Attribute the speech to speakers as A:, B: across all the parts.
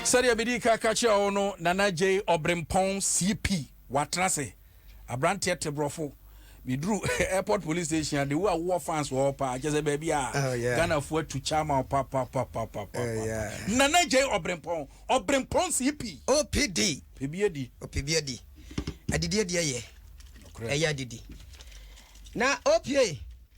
A: sɛdeɛ medi ka ka kyerɛ wo no nana gyei ɔbrempɔn cp watena ase aberanteɛ te borɔfo meduru airport police station ade wo a wowɔ fans wɔ hɔ paa kyɛ sɛ baabi a oh, ghanafoɔ atu kya ma wo papapapapapa oh, nana gyei ɔbrempɔn ɔbrempɔn cp opd
B: pɛbi adi opɛbi
A: adi adidi
B: adi ɛyɛ ɛyɛ adidi na opa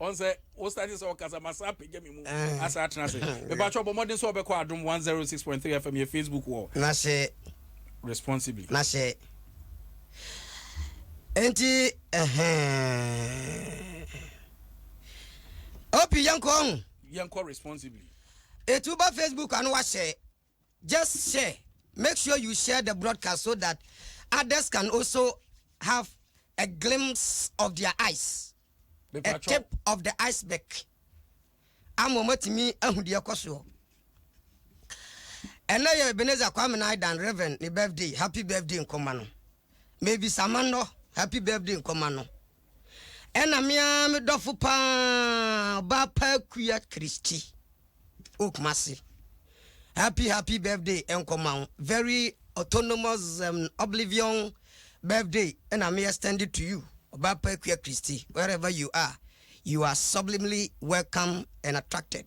B: ɔn sɛ wo
A: start sɛ ɔkasa ma saa pagya me mu asa atena ase mepakyɛ ɔbɔ mmɔden sɛ ɔbɛkɔ adom 106.3 fm yɛ facebook wɔ na sɛ
B: responsibly
A: na sɛ
B: enti ɛhɛn opi yɛnkɔ ho yɛnkɔ responsibly
A: ɛti woba
B: facebook ano wahyɛ Just share, make sure you share the broadcast so that others can also have a glimpse of their eyes, a tip of the iceberg, ama wɔn atumi ahu deɛ ɛkɔ soɔ. Ɛnɛ yɛ Ebenezer Kwame Naidan Reverend ne birthday, happy birthday nkɔma no. Mavis Amannor, happy birthday nkɔma no. Ɛna me ara me dɔfo paa ɔbaa pa Akua Christy wɔ Kumasi. Happy happy birthday nkɔma wo. Very autonomous um, oblivion birthday ɛna me extend it to you. Ɔbaa pa Akua Christy, wherever you are, you are sublimely welcome and attracted.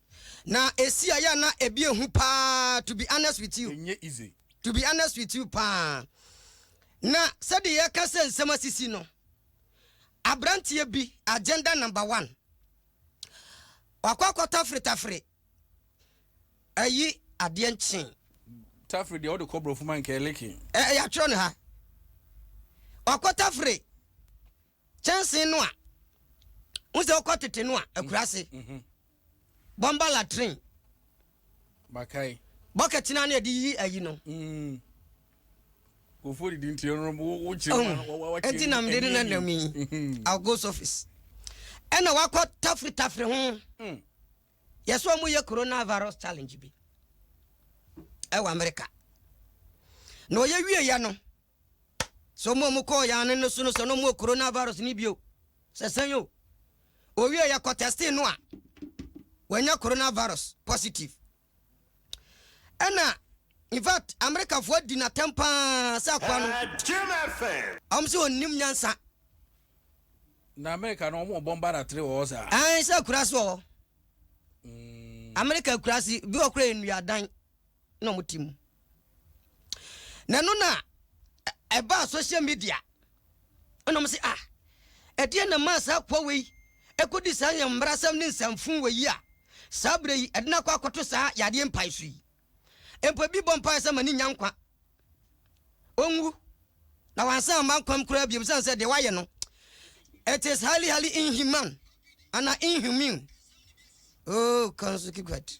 B: Na esi a yɛ a na ebi ehu paa to be honest with you. Ɛnyɛ easy. To be
A: honest with
B: you paa. Na sɛdeɛ yɛka sɛ nsɛm asisi no, aberanteɛ bi agenda number one. Wakɔ akɔ tafere tafere ayi adeɛ nkyen. Tafere deɛ
A: wode kɔ borɔfo ma nkɛleke. Ɛyɛ atwerɛ no ha.
B: Wakɔ tafere. Kyɛnsee no a wo sɛ wokɔ tete no a akuraase. Mhm. Bɔmba latrine.
A: Bakae. Bɔkɛt no
B: a na yɛde yi ayi no. Mm.
A: Kofo didi nti no wokyerɛ oh, nti nam
B: de no na nam yi mhm. I'll go surface. Ɛna wakɔ tafiri tafiri ho. Mm. Yɛsɛ wɔn yɛ coronavirus challenge bi ɛwɔ America. Na ɔyɛ wie yɛ no. Sɛ wɔn a wɔkɔɔ yɛn ano no so no sɛ na wɔwɔ coronavirus no bio. Sɛ sɛn o, owie yɛkɔ tɛstee no a, wanya coronavirus positive. Ɛna in fact Amerikafoɔ adi no atɛm paa sɛ akoa no, wɔn sɛ ɔnnim nyansa.
A: Na Amerika no wɔn bɔ mba datere wɔ hɔ saa. Ɛn sɛ akuraase wɔ hɔ.
B: Amerika akuraase bi wɔ koraa yɛ nnuadan. na ɔmo te mu. Na ɛno na ɛbaa social media ɛna ɔmo se ah ɛdeɛ na maa saa akoa wei ɛkɔdi saa yɛn mmarasɛm ne nsanfun wɔ yi a saa berɛ yi ɛde no akɔ akɔto saa yadeɛ mpae so yi mpo ebi bɔ mpae sɛ ma ne nya nkwa ɔnwu na wansan ama nkwam koraa biom sane sɛ deɛ wayɛ no it is highly highly inhuman ana inhumane oh kanso keep quiet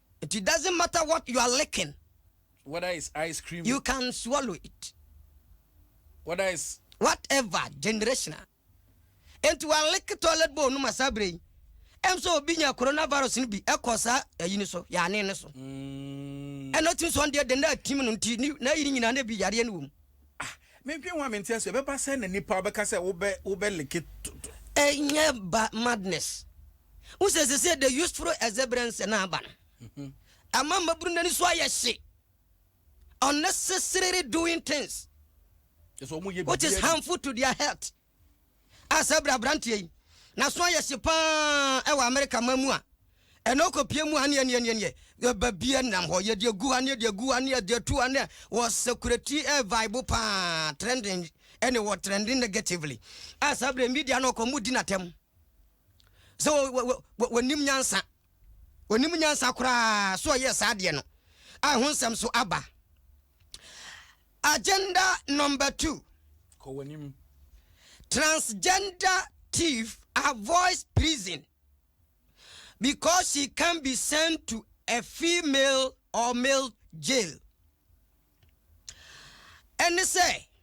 B: It doesn't matter what you are licking. Whether
A: it's ice cream. You can swallow
B: it.
A: Whether it's. Whatever
B: generational. Enti wa lick toilet bowl no ma saa bere yi. Ɛm sɛ obi nya coronavirus no bi ɛkɔ saa ayi no so, yaane no so. Mm. Ɛna ɔtumi sɔn deɛ deɛ na atim no nti na ayi no nyinaa na bi yareɛ no wɔ mu. Ah, mentwe
A: ho a mente aso ɛbɛba sɛ na nipa wobɛka sɛ wobɛ wobɛ like. Ɛnyɛ
B: ba madness. Wohu sɛ seesei the useful exuberance no aba no, ɛma mmabunu no ani so ayɛ hye, unnecessarily doing things which is harmful to their health. A saa bere aberanteɛ yi n'aso ayɛ hye paa wɔ Amerika man mu a, ɛna ɔkɔpie mu a neɛ neɛ neɛ neɛ yɛba bi nam hɔ yɛde agu ha neɛ de agu ha neɛ de atu ha neɛ wɔ security ɛ vibe paa trending ɛne wɔ trending negatively a saa bere media no ɔkɔ mu di n'atɛm sɛ wɔnim nyansa, wɔnim nyansa koraa so ɔyɛɛ saa adeɛ no a ɛho nsɛm so aba. Agenda number two. Kɔ w'anim. Transgender thief avoids prison because she can be sent to a female or male jail. Ɛne sɛ.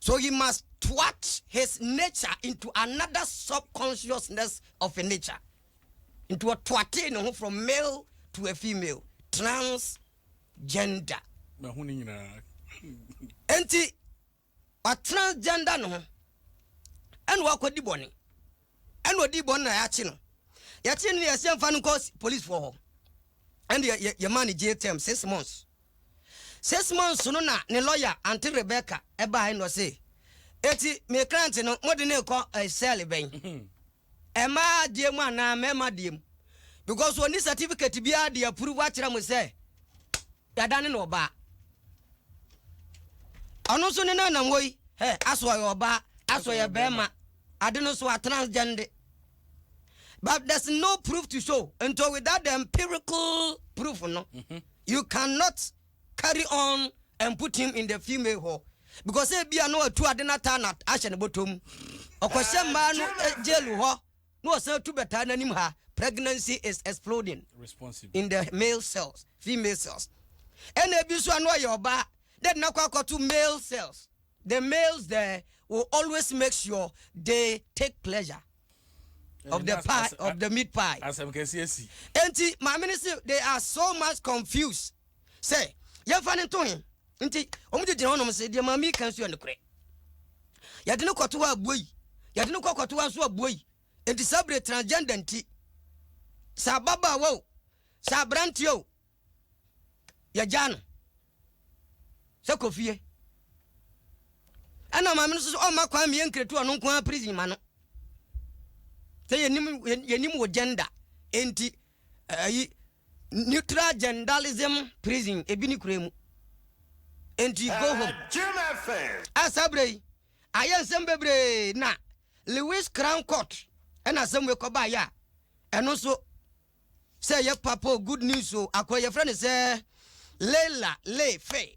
B: So he must twat his nature into another subconsciousness of a nature. Nti ɔtwatee ne ho from male to a female, transgender. Mahu ne nyinaa. Nti watransgender ne ho ɛna wakɔdi bɔne. ɛna ɔdii bɔne na yɛakye no. Yɛkyee no no, yɛse yɛmfa no nkɔ polisfoɔ hɔ. Ɛnde yɛ, yɛmaa no jail term six months. Six months no na ne lawyer, Aunty Rebecca, ɛbaae na ɔse, Eti me client no, mode no rekɔ eh, cell bɛn? Ɛmaa deɛ mu anaa mɛma deɛ mu? Because ɔni certificate biara de approve akyerɛ mo sɛ Yɛadane no ɔbaa. Ɔno nso ne no nam hɔ yi. Hɛ, aso ɔyɛ ɔbaa, aso ɔyɛ barima. Ade no so a transgende. But there's no proof to show. Nto without the empirical proof no, mm-hmm. you cannot carry on and put him in the female hɔ. Because ebia no atu ade no ataa na ahyɛ ne bɔtɔ mu. Ɔkɔhyɛ mmaa no eh, jail hɔ. na ɔsan tu bɛtaa n'anim ha, Pregnancy is exploding in the male cells, female cells. Ɛna ebi nso a na ɔyɛ ɔbaa, na ɛde no akɔ akɔto male cells. The males there will always make sure they take pleasure eh, of the pie, of the meat pie. Asɛm kɛse asi.
A: Enti maame
B: no se they are so much confused. Sɛ yɛmfa no nto he, Nti, wɔgyinagyina hɔnom se, Deɛ Maame yi ka nso yɛ nokorɛ. Yɛde no kɔto hɔ a, buei. Yɛde no kɔ kɔto hɔ nso a, buei. Enti saa bere transgender nti, sɛ ababaawa o, sɛ aberanteɛ o, yɛgyaa no sɛ kɔ fie. Ɛna maame no nso sɛ ɔmma kwan meyɛ nkratu ɔno nko ara prison ma no. Sɛ yɛnim, yɛnim wo gender. Enti, ayi, Neutral Gendalism Prison ebi ne kura mu. Enti go home. A saa berɛ yi, ayɛ nsɛm bebree na Lewis Crown Court ɛna asɛm wei kɔbaeɛ a, ɛno nso sɛ ɛyɛ papa o, good news o, akɔ yi yɛfrɛ no sɛ Leila Ley Fey.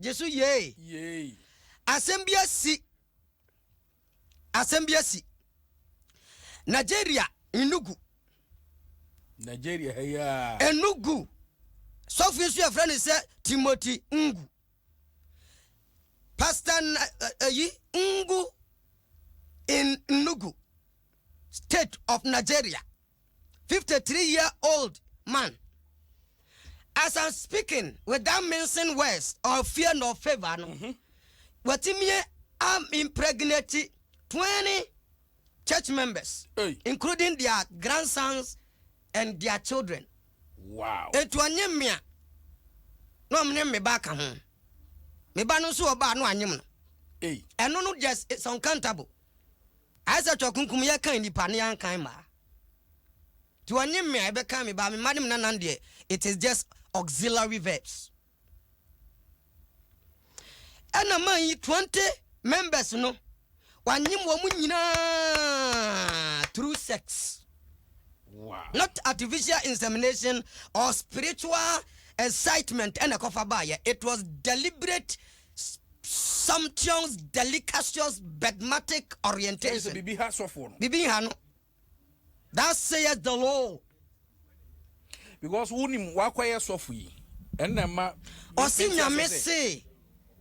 B: Gye so yei. Yei. Asɛm bi asi. Asɛm bi asi. Nigeria, Enugu.
A: Nigeria ha yi a. Enugu.
B: Sɔfo nso yɛfrɛ no sɛ Timothy Ngu. Pastor ayi eh, eh, Ngu in Enugu, state of Nigeria. 53 year old man as i'm speaking without mincing words or fear nor favour no mhm. watumi am impregnate 20 church members hey. including their grandsons and their children wow
A: etu ɔnye mmea
B: na ɔmo ne mmeba ka ho mmeba no nso ɔbaa no anyem no ɛno no just it's uncountable Ayɛ sɛ ɔtɔkunkum yɛ kan nipa ne yɛn kan mmaa. Ti ɔnye mmea ɛbɛkan me baa me mma ne me nanan deɛ it is just auxiliary verbs. Ɛna man yi 20 members no wanyem wɔn nyinaa through sex.
A: Wow. Not artificial
B: insemination or spiritual excitement ɛna ɛkɔfa baayɛ. It was deliberate sumptuous, delicacious, bedmatic orientation. Bibi ha sɔfoɔ no.
A: Bibi ha no.
B: That says the Lord.
A: Because wonim wakɔyɛ sɔfo yi. Ɛnna ɛma. Ɔsi nyame
B: se.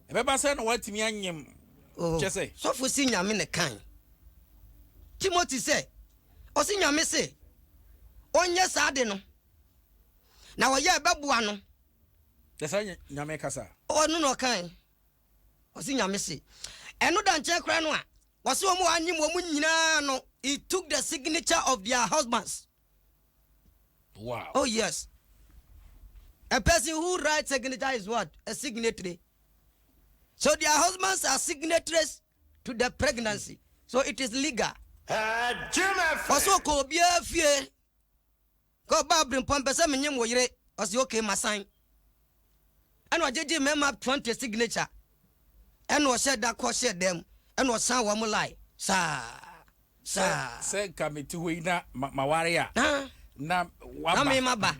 B: Ɛbɛba sɛ
A: na watumi anyem. Oh. Kyɛ sɛ. Sɔfo si nyame
B: ne kan. Timothy sɛ. Ɔsi nyame se. Ɔnyɛ saa de no. Na ɔyɛ ɛbɛboa no. Kyerɛ sɛ ɔnyɛ
A: Nyame kasa. Ɔno na ɔkae,
B: ɔse Nyame se. Ɛno da nkyɛn koraa no a, wɔse wɔn a wɔannyem wɔn nyinaa no, he took the signature of their husbands.
A: Wow. Oh yes.
B: A person who writes signature is what? A signatory. So their husbands are signatories to the pregnancy. So it is legal. Ɔse ɔkɔ obiara fie. Ka ɔbaa birempɔn pɛ sɛ menyem wo yere ɔse okay masan ɛna ɔgyegye mmarima up twenty signature ɛna ɔhyɛ da kɔ hyɛ dan mu ɛna ɔsan wɔn line saa saa.
A: Sɛ nka mete hɔ yi na maware a na waba. Na mema ba.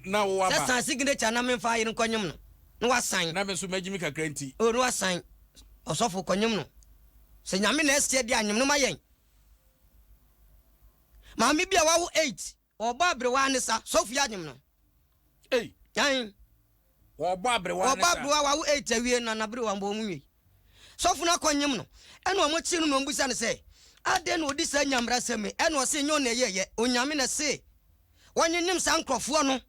B: Na wo
A: waba. Sɛ san signature na
B: memfa ayere nkɔ nyem no na wasan. Na me nso magyimi kakra
A: nti. O na wasan
B: ɔsɔfo kɔ nyem no sɛ nyame na ɛseɛ deɛ anyem no ma yɛn. Maame bi a wawo eight, wɔbɔ aberewa ne sa, sɔfo yi anyem no. Ei.
A: Ɛn.
B: Wɔbɔ
A: aberewa ne sa. Wɔbɔ aberewa wawo eight awie
B: na n'aberewa mbɔ wɔn nwie. Sɔfo no akɔ nyem no, ɛna wɔn kye no na wɔn bisa no sɛ, adɛn na odi saa nyamera sɛm yi, ɛna ɔse nyɛ ɔno na ɛyɛ yɛ, Onyame na ɛse wɔnyenyem saa nkorɔfoɔ no.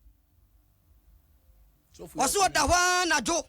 B: Ɔse ɔda hɔ ara anadwo.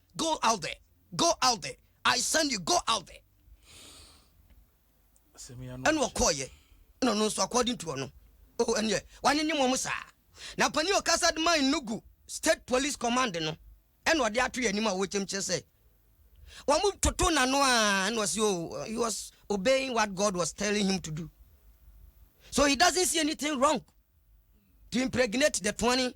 B: Go out there, go out there, I send you, go out there. Ɛna ɔkɔɔyɛ, ɛna ɔno nso according to ɔno, oh ɛneɛ wanyɛnyɛ mu ɔmo saa. Na panin ɔkasa de ma Enugu state police command no, ɛna ɔde ato yɛ anim a wɔkyɛm kyerɛ sɛ wɔn toto n'ano a ɛna ɔsi oh he was obeying what God was telling him to do so he doesn't see anything wrong to impregnate the twenty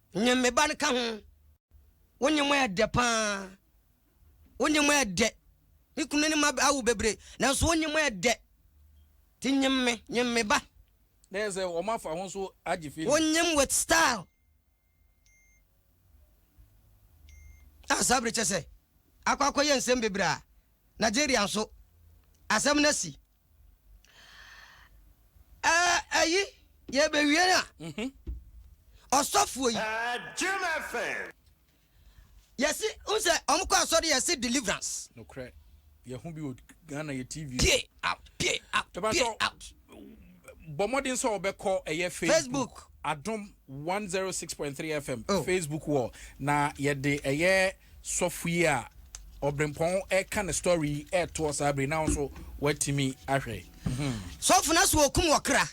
B: Nye me ba no ka ho. Wo nye mo yɛ dɛ paa. Wo nye mo yɛ dɛ. Me kunu ne ne mma awo bebree, nanso wo nye mo yɛ dɛ. Nti nye me, nye me ba. Na ɛyɛ sɛ
A: wɔafa ho so agye firi. Wo nye me with style.
B: A saa bere kyerɛ sɛ akɔ akɔyɛ nsɛm bebree a Nigeria nso asɛm no asi. ɛyi yɛbɛwie no a mhm. ɔsɔfoɔ yi yɛsi n sɛ ɔmo kɔ asɔre yɛsi deliverance. nokorɛ
A: yɛho bi wɔ ghana yɛ tv pie out pie
B: out pie out
A: bɔ mmɔden sɛ wɔbɛkɔ ɛyɛ facebook adom one zero six point three FM oh. Facebook wall na yɛde ɛyɛ sɔfo yi a ɔbrempɔn ɛka ne story yi ɛtoɔ saa bere na nso watumi ahwɛ. Hmm. sɔfo na
B: so okum ɔkra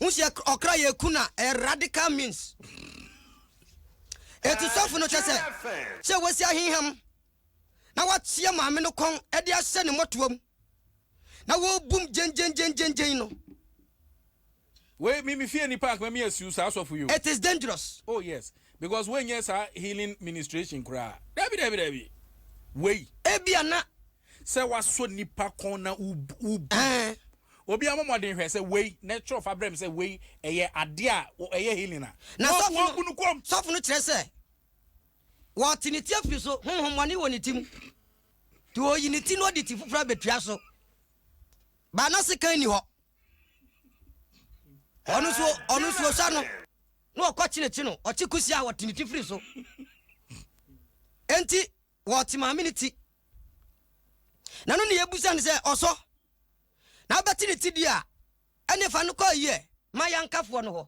B: n sɛ ɔkra yɛ ku na ɛ radical means ɛti sɔfo no kyɛ sɛ sɛ wasi aheham na wateɛ maame no kɔn ɛde ahyɛ ne mmɔtoam na wɔbum gyengyengyengyen no
A: Wei me me fie nipa anka me yɛ siw saa asɔfo yi o. It is dangerous. Oh
B: yes because
A: wei nyɛ saa healing ministration koraa dabi dabi dabi wei. Ebia na.
B: Sɛ wasɔ
A: nipa kɔn na wo wo. Ɛɛ. Obi a mɔmɔden hwɛ sɛ wei na ɛtwerɛ fa brɛ me sɛ wei ɛyɛ adeɛ a ɛyɛ healing a. Na sɔfo no wɔbu no
B: kɔm. Sɔfo no kyerɛ sɛ wɔte ne ti afiri so honhommɔne wɔ ne ti mu nti ɔyi ne ti na ɔde ti foforɔ abɛtua so but na sekan nni hɔ. ɔno nso ɔno nso ɔsua no na ɔkɔ kyenekye no ɔkye kusi a ɔte ne ti firi so enti wɔte maame ne ti na no ne yɛbusa no sɛ ɔsɔ na abɛte ne ti di a ɛne fa no kɔ ayie ma yɛnkafoɔ no hɔ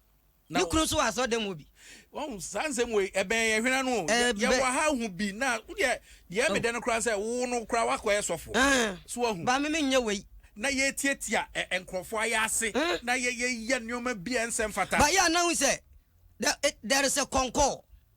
B: ne kunu nso wɔ asɔrdan mu bi. wɔn saa nsɛm
A: wei ɛbɛn yɛ hwena no yɛ wɔ ha hu bi na wodeɛ deɛ oh. medɛ no koraa sɛ wo no koraa wakɔyɛ sɔfo eh. so ahu ba me menyɛ wei
B: na yɛtiatia
A: eh, nkurɔfoɔ ayɛ ase eh. na yɛyɛ nneɛma bi a ɛnsɛ mfata ba yɛ anahu sɛ
B: there is a concord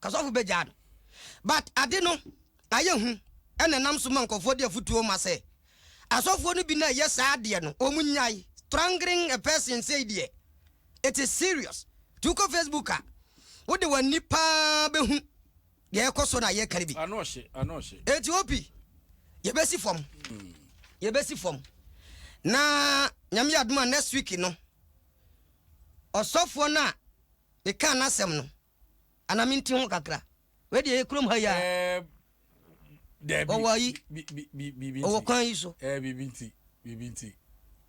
B: Kasɔfo begyaa no. But ade no ayɛ hu ɛna ɛnam so ma nkurɔfoɔ de afutuo ma sɛ asɔfoɔ no bi na ɛyɛ saa adeɛ no wɔn nyae strangling a person sei deɛ it is serious nti wokɔ Facebook a wo de w'ani paa bɛhu deɛ ɛkɔ so na yɛka no bi Ano hye, ano hye.
A: enti OP
B: yɛbɛsi fam yɛbɛsi fam na Nyame yɛ adom a next week no ɔsɔfoɔ no a mekaa n'asɛm no Ana me nti ho kakra. Wei deɛ ɛyɛ kurom ha yi a. Ɛɛ
A: dɛbi. Ɔwɔ ayi. Bi
B: bi bi biribi nti. Ɔwɔ kwan yi so. Ɛɛ biribi nti biribi nti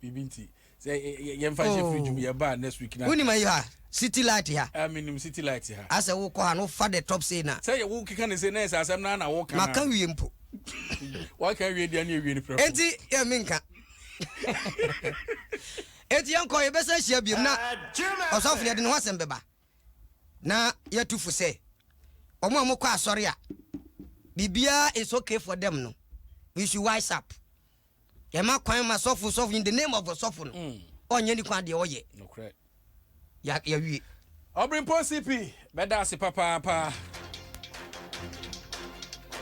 A: biribi nti sɛ yɛn fa nhyɛ fridge mu oh. yɛ ba next week na. Wúni ma yi ha
B: city light ha. Ɛɛ mi nim city light ha.
A: Asɛ wo kɔ ha no fa
B: the top say na. Sɛ yɛ wo keka ne se na yɛ sɛ
A: asɛm na na wo kan. Ma kan wie mpo.
B: Wa
A: kan wie deɛ ne ewie ne pɛrɛ. Eti yɛ mi nka.
B: Eti yɛn kɔ yɛ bɛ sɛ hyia biem na ɔsɔfo yɛ de ne ho asɛm bɛba. Na yɛtu fo sɛ wɔn a wɔkɔ asɔre a biribiara is okay for them no, we should wise up. Yɛma kwan ma sɔfo sɔfo in the name of ɔsɔfo no, mm. ɔnyɛ nipa deɛ ɔyɛ. Nokorɛ.
A: Ya yɛwie. Ɔbirimpɔn CP bɛda ase papaapa.